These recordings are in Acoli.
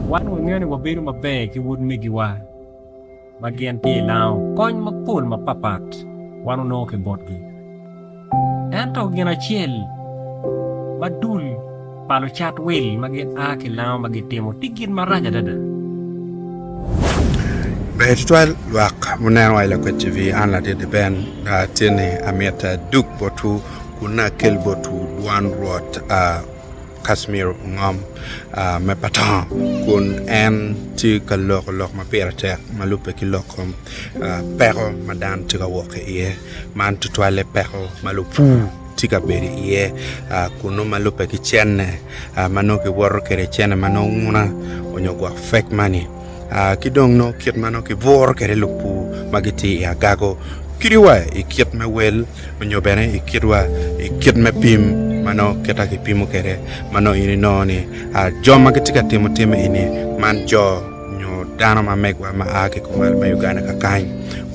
Wan wangeyo ni wabedo maber ki utmegiwa ma gin tye i lango kony mapol mapatpat wan wanongo ki botgi. Ento gin acel ma dul pa lucat wil ma gin a ki lango ma gitimo tye gin marac adada. Ber tutwal lwak muneno wa i Lakwed TV. An Ladidi Ben atye ni amyero adug botwu kun akel botwu dwan Rwot. Casimir ongom me Patong kun en tye ka loko lok ma pire tek ma lubbe ki lok kom peko ma dano tye ka wok ki iye man tutwalle peko ma lupur tye ka bedo iye kun nongo ma lubbe ki cene ma nongo kiwoto kwede cene ma nongo nguna nyo gwok fake money. ki dong nongo kit ma nongo kibwuro kwede lupur ma gitye i agago kadi wa i kit me wel nyo bene i kit wa i kit me pim ma nongo kita kipimo kwede ma nongo in inongo ni jo ma gitye ka timo tim eni man jo nyo dano ma megiwa ma a ki kumal ma Uganda kakany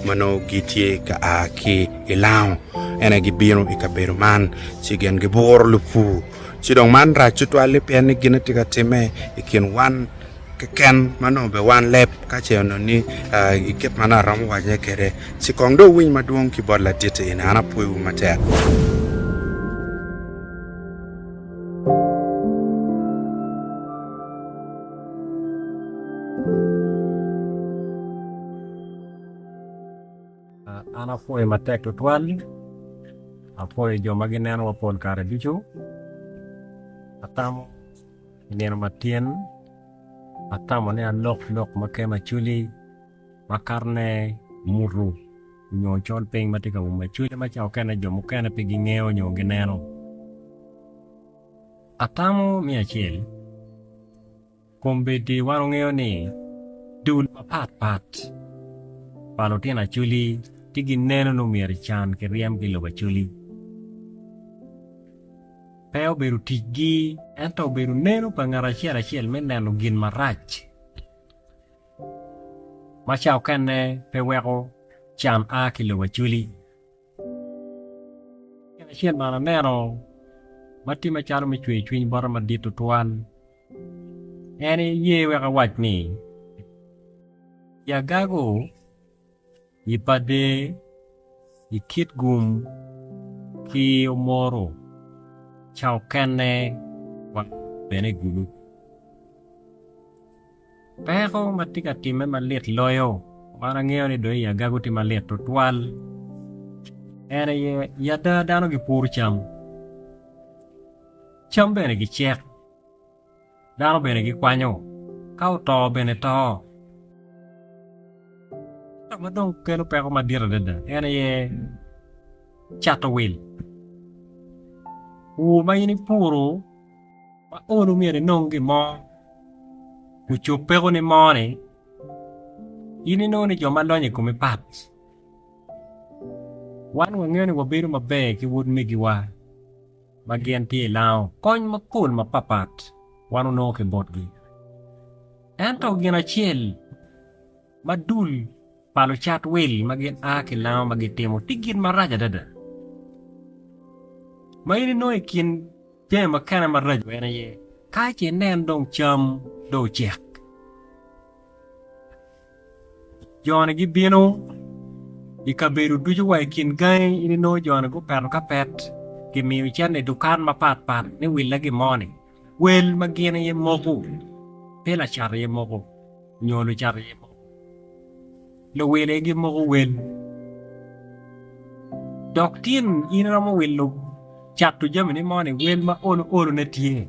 ma nongo gitye ka a ki i Lao ene gibino i kabedo man ci gin gibwuro lupur ci dong man rac tutwal-li pien ni gin aye tye ka timme i kin wan keken ma nongo be wan leb ka ce onongo ni i kit ma nongo aromo waco iye kwede ci kong dong wuwiny madwong ki bot laditi eni an apwoiwu matek. An apwoyo matek tutwal apwoyo jo ma ginenowa pol kare ducu atamo I nino matin, atamo ni alok lok ma kema cwili makato ne mutu nyo col piny matye ka uma cwili ma ca okene jo mukene pe gi ngeyo nyo gi neno. Atamo me acel, kombeddi wan ongeyo ni dul mapat pat pa lutino acwili tye gi neno ni omyero ecan ki ryem ki lok acwili. pe obedo ticgi, ento obedo neno pa ngat acel acel me neno gin marac ma ca okene pe weko can a ki lobo acwli. Gin acel ma an aneno ma tye macalo me cweyo cwiny bota madit tutwal en aye ye wek awac ni, Yagago, I pa der, i kit gum ki omoro ca okene wa bene gulu. Peko ma tye ka timme malit loyo man angeyo ni dong i agago tye malit tutwal en aye i ada dano gipuru cam, cam bene gicek. Dano bene gikwanyo, ka oto bene to. Ka ma dong kelo peko madit adada en aye cato wil. Pur ma in ipuro ma olu myero inong gin mo ocop pekoni mo ni in inongo ni jo ma lonyo i kome pat. Wan wangeyo ni wabedo maber ki wod megiwa. ma gin tye i lango kony mapol mapatpat wan onongo ki botgi. Ento gin acel ma dul pa lucat wil ma gin a ki lango ma gitimo tye gin marac adada. Ma in inongo i kin jami mukene maraco en aye ka ce inen dong cam dong ocek, Jo-ni gibino i kabedo ducu wa i kin gangi in inongo jo-ni gupeto ka pet gimiyo icito i dukan mapat pat ni willa gin mo-ni wel ma gin aye moko pe lacat aye moko nyo lucat aye moko luwil aye gimoko wel dok tin in iromo wilo cato jamini mo-ni wel ma olo olone tye.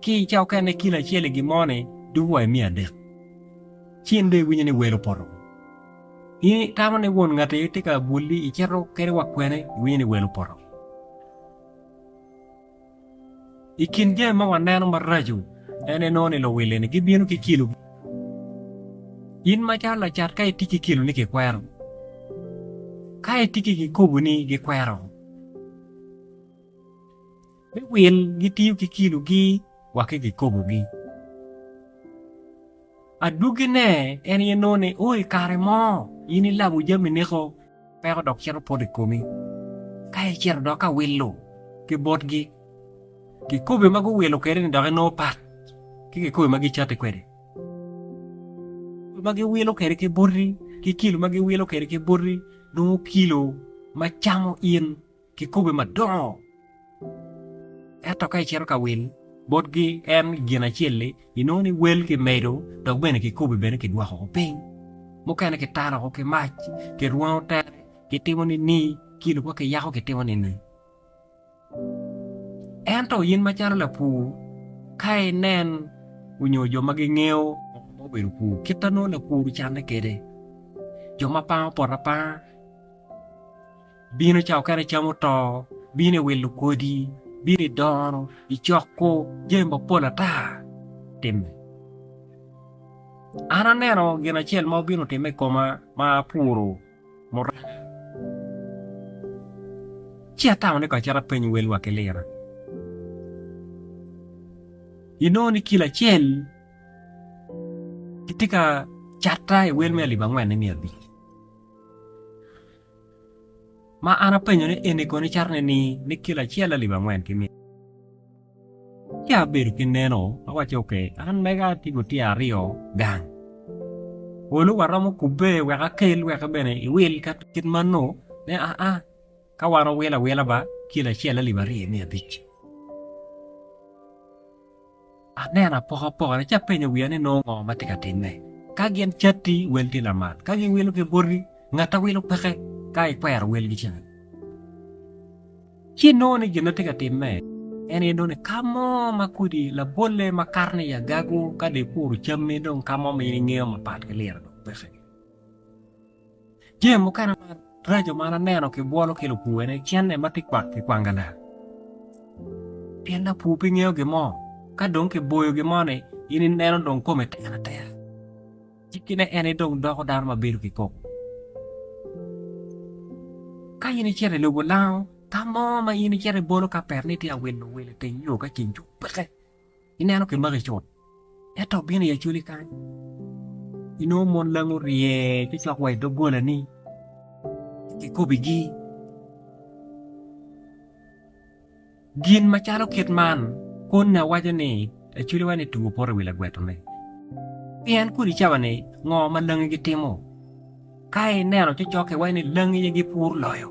Ki i cawa okene kilo acel i gin-moni doko wa i miya adek. Ci in dong iwinyo ni wel opoto. In itamo ni won ngati tye ka bwoli icito kene wa kwene, iwinyo ni wel opoto. I kin jami ma waneno maraco en enongo ni luwil-li-ni gibino ki kilo. In macalo lacat ka itye ki kiloni kikwero. Ka itye ki kikopo-ni gikwero. Me wil gitiyo ki kilogi wa ki kikobogi. Adwogine en aye nongo ni o i kare mo in ilabo jami niko peko dok cito poto i komi ka icito dok ka wilo ki botgi. Kikobi ma guwilo kwede ni dok inongo pat ki kikobi ma gicati kwede. Kilo ma giwilo kwede ki boti ki kilo ma giwilo kwede ki boti nongo kilo ma camo in. Kikobe madongo. Ento ka icito ka wil, botgi en gin acel-li, inongo ni wel kimedo dok bene kikobe bene kidwoko woko piny. Mukene kitalo woko ki mac, kirwango tere, kitimo nining, ki lubwa kiyako kitimo nining. Ento in macalo lapur, ka inen onyo jo ma gingeyo ngo ma obedo pur, kit ma nongo lapur ocanne kwede, jo ma pango poto apanga, Bino ca okene cam oto, bino i wilo kodi, bino i dono, i coko, jami mapol ata timme. An aneno gin acel ma obino timme i koma ma apuro muranga. Ci atamo ni kong acit apeny welwa ki lira. Inongo ni kilo acel kitye ka catta i wel me alip angwen-ni miya abic. Ma an apenyo ni eni kono icato nining ni kilo acel alip angwen ki mia? Ci abedo ki neno, awacci, Ok, an mega atye ki otyer aryo gang. Olu wa romo kubbe wek akel wek bene iwil ka kit man nongo ne aa ka wan wawilo awila ba kilo acel alip aryo ki mia abic. Aneno apokapokane ci apenyo wiya ni nongo ngo ma tye ka timme. Ka gin catti, wel tye lamal. Ka giwilo ki boti, ngatte wilo peke ka ikwero welgi cen. Ci inongo ni gin ma tye ka timme en aye nongo ni ka mo ma kodi labolle ma kato ni i agago ka dong ipuro cammi dong ka mo ma in ingeyo mapat ki liro dong peke. Jami mukene maraco ma an aneno ki bwolo ki lupuwe ni cente ma tye kwak ki kwanga lak. Pien lapur pe ngeyo gin mo, ka dong ki boyo gin mo ni in i neno dong komi tek atek. Cikki ne en idong doko dano ma bedo ki koko. Ka in icito i lobo lango, ka mo ma in icito ibolo ka pet ni itye ka wilo wil i teng yo ka ceng cuk peke Ineno ki magi cut, ento obino i acwali kany, inongo mon langi orye ci cok wa i doggolani, kikobigi gin macalo kit man, Koni awaco ni acwaliwa-ni two poto i wi lagwetone. Pien kodi icawa ni, 'Ngo ma langi gitimo? Ka ineno cocok iwaco ni, 'Langi aye gipur loyo.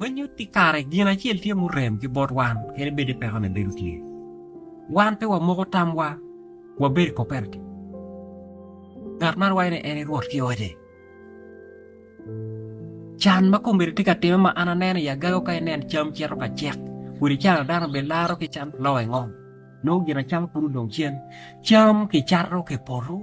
Winyo ti kare gin acel tye murem ki bot wan kadi bed ni pekone bedo tye. Wan pe wamoko tamwa wabedo i koperti. Ngat man waco ni en i rwot ki ote. Can ma komedi ti ka time ma an aneno i agago ka inen cam cito ka cek kun i cana dano be laro ki can loo i ngom nongo gin acama pud odong cen cam ki cato ki poto.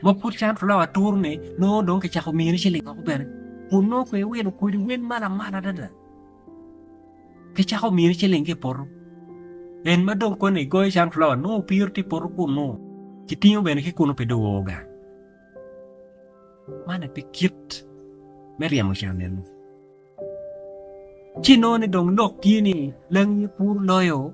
Ma pud cam flawa aturune nongo dong kicako miyone ciling woko bene, kun nongo pe iwilo kodi wel ma lamal adada. Kicako miyone ciling ki i poto. En ma dong koni igoyo cam flawa nongo opiro tye i poto kunnu, kitingo bene ki kunnu pe dong oo gang. Man aye pe kit me ryemo can eno. Ci inongo ni dong lok tye ni langi puro loyo.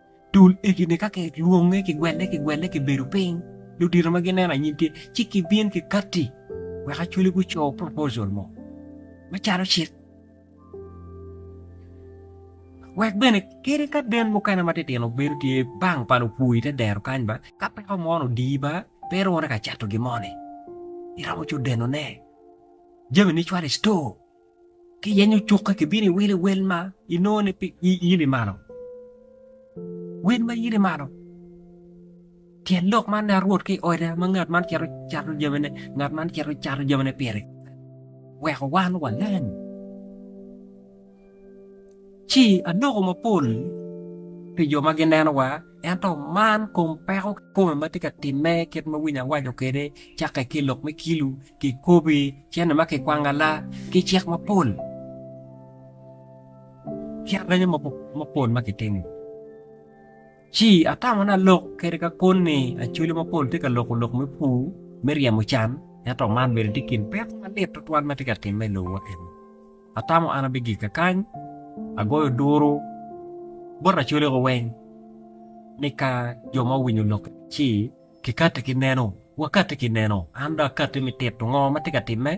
Dul egine ka kilwonge kigwelle kigwelle kibedo piny ludito ma gineno anyim tye ci kibin ki katti wek Acholi guco proposal mo macalo cik wek bene kadi ka den mukene matitino bedo tye bang pa lupur ite dero kany ba ka peko mo ni odiyi ba pe irune ka cato gin mo ni iromo co deno ne jami ni icwalo i store. Ki yenyo cukke kibino iwile wel ma inongo ni pi yili malo. Wel ma yili malo. Tyen lok man ne rwot ki oda ma ngat man cito cato jami ne, ngat man cito cato jami ne pire. Weko wan wa leng. Ci aloko mapol pi jo ma gineno wa. Ento man kom peko kikome ma tye ka timme kit ma winyi awaco kwede, cakke ki i lok me kilu, kikobi, cene ma kikwangala, ki cik mapol, ki arenyo mapol ma kitimo. Ci atamo ni alok kede ka koni ni Acholi mapol tye ka loko lok me pur me ryemo can, ento man bene tye i kin peko malit tutwal ma tye ka timme i lobo wa eni. Atamo an abigika kany, agoyo duru bot lacolego weng ni ka jo ma owinyo lokke ci kikatte ki neno, wakatte ki neno. An dong akatte me tito ngo ma tye ka timme.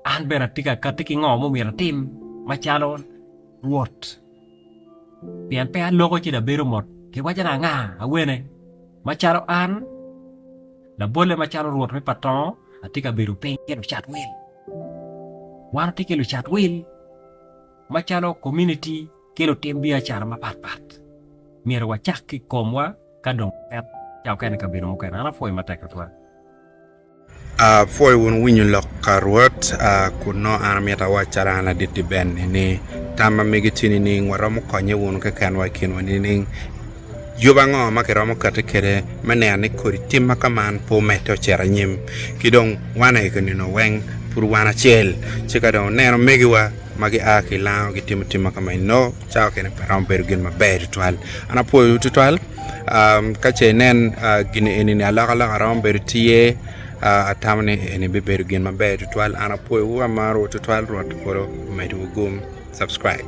An bene atye ka katte ki ngo mumyero atim macalo Rwot, pien pe aloko ci labedo mot ki wacana anga awene. Macalo an, labolle macalo Rwot me patongo, atye ka bedo piny ki lucat wil. Wan watye ki lucat wil macalo komuniti ki lutim biacara mapat pat. Myero wacak ki i komwa ka dong wapet ca okene i kabedo mukene. An apwoyo matek tutwal. Apwoyo wun winyo lok ka Rwot. Kun nongo an amito awac calo an ladit-ti bene ni tam ma amegiti nining? Waromo konye wunu kekenwa i kinwa nining? Yub ango ma kiromo kati kwede me neno ni kodi tim ma kaman pe omedde ocito anyim? Ki dong wan aye ki nino weng pud wan acel, ci ka dong oneno omegiwa ma gia ki i Lango gitimo tim ma kama eno, cawa kene pe romo bedo gin maber tutwal. An apwoyowu tutwal. Am, ka ce inen gin eni ni alokaloka romo bedo tye, ah, atamo ni eni bibedo gin maber tutwal. An apwoyowu, amarowu tutwal. Rwot i polo omedwu gum, subscribe.